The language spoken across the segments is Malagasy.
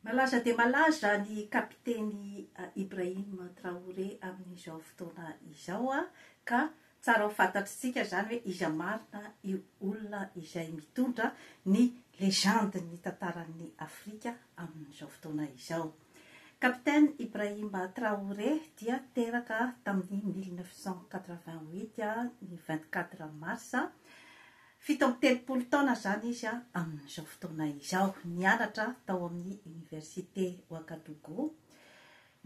Malaza dia malaza ny kapiteny Ibrahim Traoré amin'izao fotoana izao ka tsara ho fantatr'tsika izany hoe iza marina io olona izay mitondra ny legendin'ny tantaran'ny Afrika amin'izao fotoana izao. Kapiteny Ibrahim Traoré dia teraka tamin'ny mille neuf cent quatre-vingt-huit ny vingt-quatre mars Fito amby telopolo taona izany izy amin'izao fotoana izao. Nianatra tao amin'ny Oniversite Ouagadougou.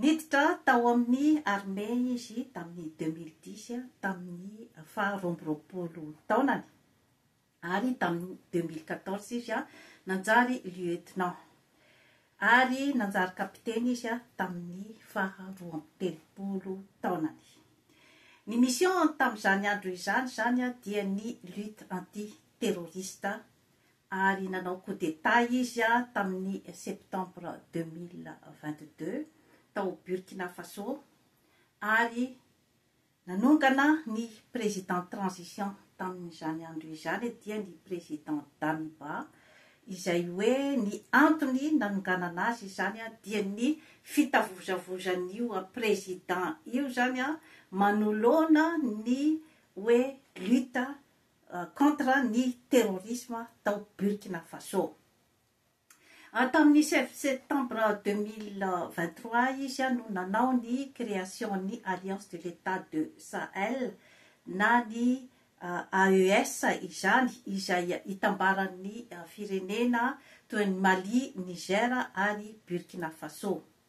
Niditra tao amin'ny armée izy tamin'ny deux mille dix, tamin'ny faha roa amby roapolo taonany, ary tamin'ny deux mille quatorze izy nanjary lieutenant. ary nanjary kapiteny izy tamin'ny faha roa amby telopolo taonany. Ny mission-ny tamin'izany andro izany izany dia ny lutte anti-terroriste ary nanao coup d'Etat izy tamin'ny septembre deux mille vingt-deux tao Burkina Faso ary Nanongana ny président transition tamin'izany andro izany dia ny président Damiba, izay hoe ny antony nanonganana azy izany dia ny fitavozavozan'io président io izany manoloana ny hoe lutte contre ny terrorisme tao Burkina Faso. Tamin'ny sivy septambra deux mille vingt trois izy no nanao ny création ny Alliance de l'Etat de Sahel na ny AES izany izay itambaran'ny firenena toy an'i Mali, Niger ary Burkina Faso.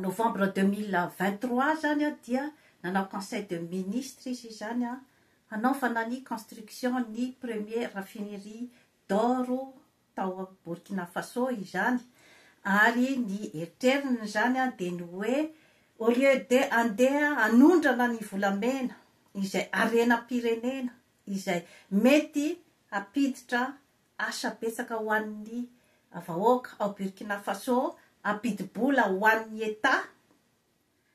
novembre deux mille vingt trois zany a dia nanao conseil de ministre izy izany a hanaovana ny construction ny premier raffinerie d'or tao Burkina Faso izany ary ny eritreriny izany a dia ny hoe au lieu de andeha hanondrana ny volamena izay harenam-pirenena izay mety hampiditra Asa betsaka ho an'ny vahoaka ao Burkina Faso ampidi-bola ho an'ny Etat.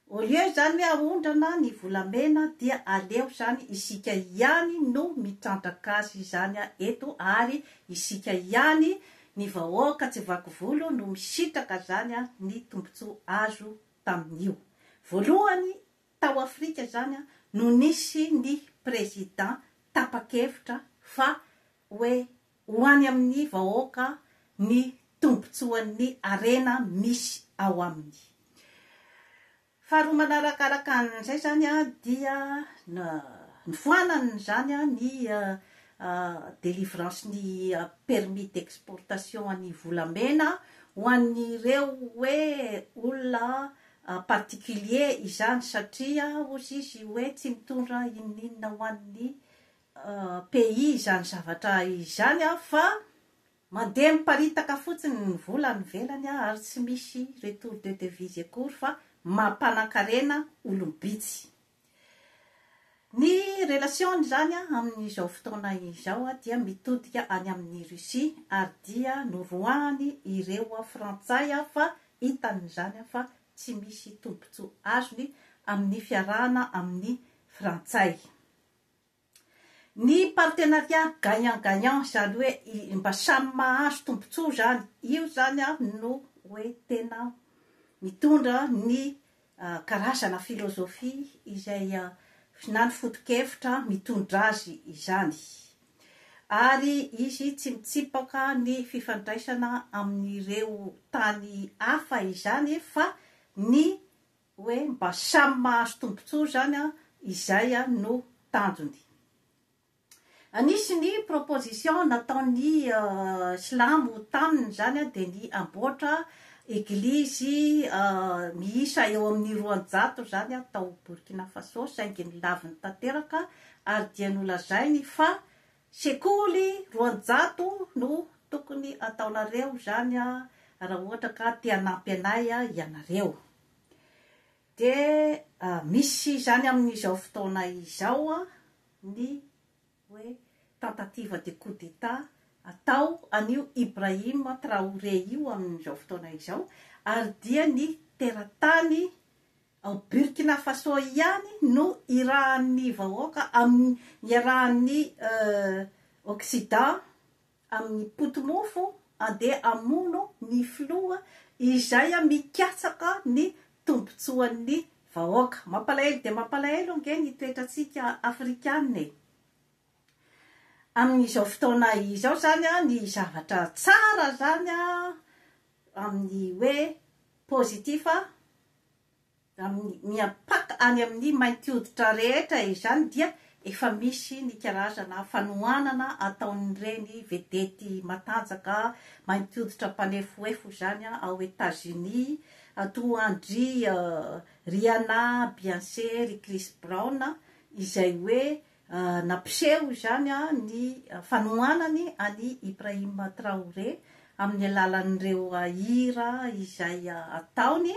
Au lieu izany hoe ahondrana ny volamena dia aleo izany isika ihany no mitrandraka azy izany eto ary isika ihany ny vahoaka tsy vaky volo no misitraka izany ny tombotsoa azo tamin'io. Voalohany tao Afrika izany no nisy ny Président tapa-kevitra fa hoe ho any amin'ny vahoaka ny tombontsoan'ny harena misy ao aminy. Faharoa manaraka araka an'izay izany dia nifoanan'izany ny délivrance ny permis d'exportation an'ny volamena ho an'ireo hoe olona particulier izany satria hozy izy hoe tsy mitondra inon'inona ho an'ny pays izany zavatra izany a fa mandeha miparitaka fotsiny ny vola any ivelany a ary tsy misy retour de devise akory fa mampanan-karena olom-bitsy. Ny relation izany a amin'izao fotoana izao a dia mitodika any amin'i Russie ary dia noroahany ireo frantsay a fa hitany izany a fa tsy misy tombotsoa azony amin'ny fiarahana amin'ny frantsay. Ny partenariat gagnant gagnant zany hoe mba samy mahazo tombotsoa zany, io zany no hoe tena mitondra ny karazana filozofia izay na ny fotokevitra mitondra azy izany. Ary izy tsy mitsipaka ny fifandraisana amin'ireo tany hafa izany fa ny hoe mba samy mahazo tombontsoa izany an, izay no tanjony. Anisy ny proposition nataon'ny silamo taminy izany dia ny hamboatra eglizy miisa eo amin'ny roanjato izany tao Burkina Faso saingy nilaviny tanteraka ary dia nolazainy fa Sekoly roanjato no tokony ataonareo izany raha ohatra ka te hanampy anay ianareo. Dia misy izany amin'izao fotoana izao ny hoe tentative de coup d'Etat atao an'io Ibrahim Traoré io amin'izao fotoana izao ary dia ny teratany Ao Burkina Faso ihany no irahan'ny vahoaka amin'ny iarahan'ny Occident amin'ny poti-mofo andeha hamono ny filoha izay mikatsaka ny tombontsoan'ny vahoaka. Mampalahelo dia mampalahelo ange ny toetrantsika Afrikana e! Amin'izao fotoana izao izany ny zavatra tsara izany amin'ny hoe positif miampaka any amin'ny mainty hoditra rehetra izany dia efa misy ny karazana fanohanana ataon'ireny vedety matanjaka mainty hoditra mpanefoefo izany ao Etazonia, toa an-dry Rihanna, Beyoncé, ry Chris Brown, izay hoe Nampiseho izany ny fanohanany an'i Ibrahim Traoré amin'ny alalan'ireo hira izay ataony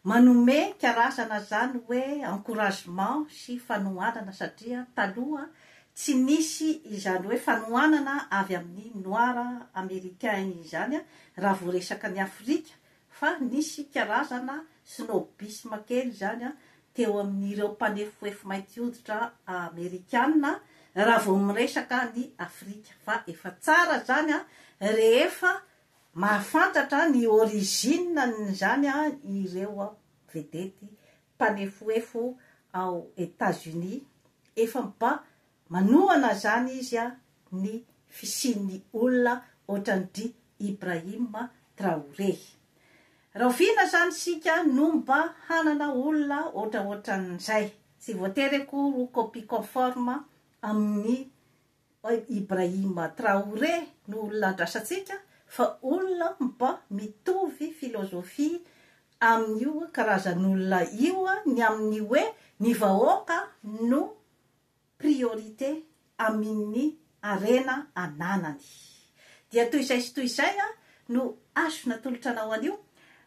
manome karazana izany hoe encouragement sy fanohanana satria taloha tsy nisy izany hoe fanohanana avy amin'ny noir américain izany raha vao resaka an'i Afrika Fa nisy karazana snobisme kely izany teo amin'ireo mpanefoefo mainty hoditra amerikana raha vao miresaka an'i Afrika. Fa efa tsara izany rehefa mahafantatra ny origine-n'izany ireo vedety mpanefoefo ao Etats-Unis efa mba Manohana izany izy a ny fisian'ny olona ohatran'dry Ibrahim Traoré. Rahoviana izany isika no mba hanana olona ohatraohatran'izay. Tsy voatery akory ho copie conforme amin'i Ibrahim Traoré no olona andrasantsika fa olona mba mitovy philosophie amin'io karazan'olona io ny amin'ny hoe ny vahoaka no priorité amin' ny harena ananany. Dia toy izay sy toy izay no azo natolotra anao an' io.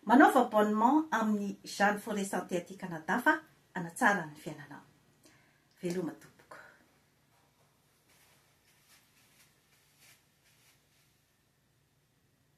Manaova abonnement amin' ny Jeanne Forêt Santé aty Canada fa hanatsara ny fiainanao. Veloma tompoko.